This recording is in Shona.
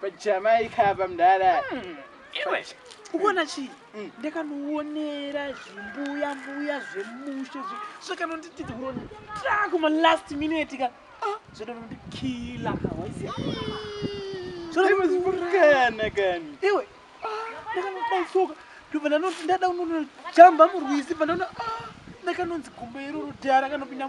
pajamaica apa mdara hmm, iwe ukuona chii hmm. ndakanoonera zvimbuya mbuya zvemushe zvakanondititi kuro ndako malast minute ka ah, zvodanondikila zvozvokana kani iwe ah, ndakanodaisoka ndobva ndanoti ndada unonojamba murwisi bva ndaona ah, ndakanonzi gumba iroro dhara kanopinda